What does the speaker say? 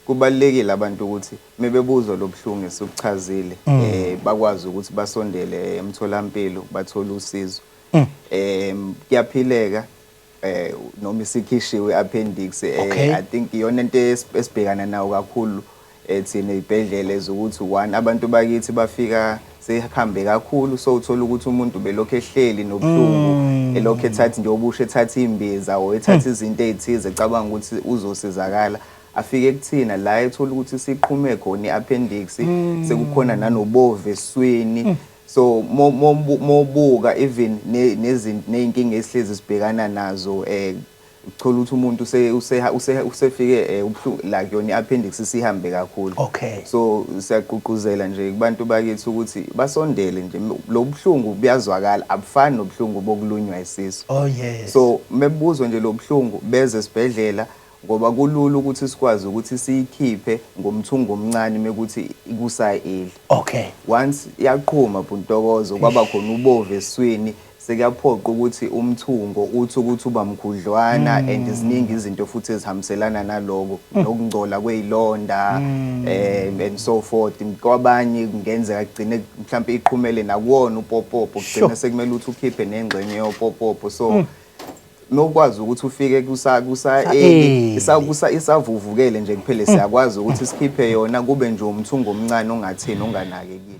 Kubalulekile abantu ukuthi mebebuzwa lobuhlungu esukuchazile mm. eh bakwazi ukuthi basondele emtholampilo bathole usizo. Mm. Eh kuyaphileka eh noma isikhishiwe appendix eh I think iyona into esibhekana nayo kakhulu eh thina izibhedlela ezokuthi one abantu bakithi bafika sehambe kakhulu so uthola ukuthi umuntu belokhu ehleli nobuhlungu mm. elokhu ethatha nje obusha ethatha imbiza or ethatha hmm. izinto ezithize ecabanga ukuthi uzosizakala afike kuthina la ethola ukuthi siqhume khona i-appendix hmm. sekukhona nanobovu eswini hmm. so mobuka even nezinto nezinkinga esihlezi sibhekana nazo eh Uthole ukuthi umuntu use- use- use- usefike eh, ubuhlungu like yona i-appendix isihambe kakhulu Okay. so siyagqugquzela nje kubantu bakithi ukuthi basondele nje lo buhlungu buyazwakala abufani nobuhlungu bokulunywa isisu Oh yes. so mebuzwa nje lobuhlungu beze esibhedlela ngoba kulula ukuthi sikwazi ukuthi siyikhiphe ngomthungo omncane mekuthi ikusayi eli okay. once yaqhuma bhuntokozo kwaba khona ubovu eswini Sekuyaphoqa ukuthi umthungo uthi ukuthi uba mkhudlwana and ziningi izinto futhi ezihambiselana naloko nokungcola kweyilonda um and so forth kwabanye kungenzeka kugcine mhlawumbe iqhumele nakuwona upopopo kugcine sekumele ukuthi ukhiphe nengxenye yopopopo so nokwazi ukuthi ufike kusa kusa early, isa kusa isavuvukele nje kuphele siyakwazi ukuthi sikhiphe yona kube nje umthungo omncane ongathini onganakekile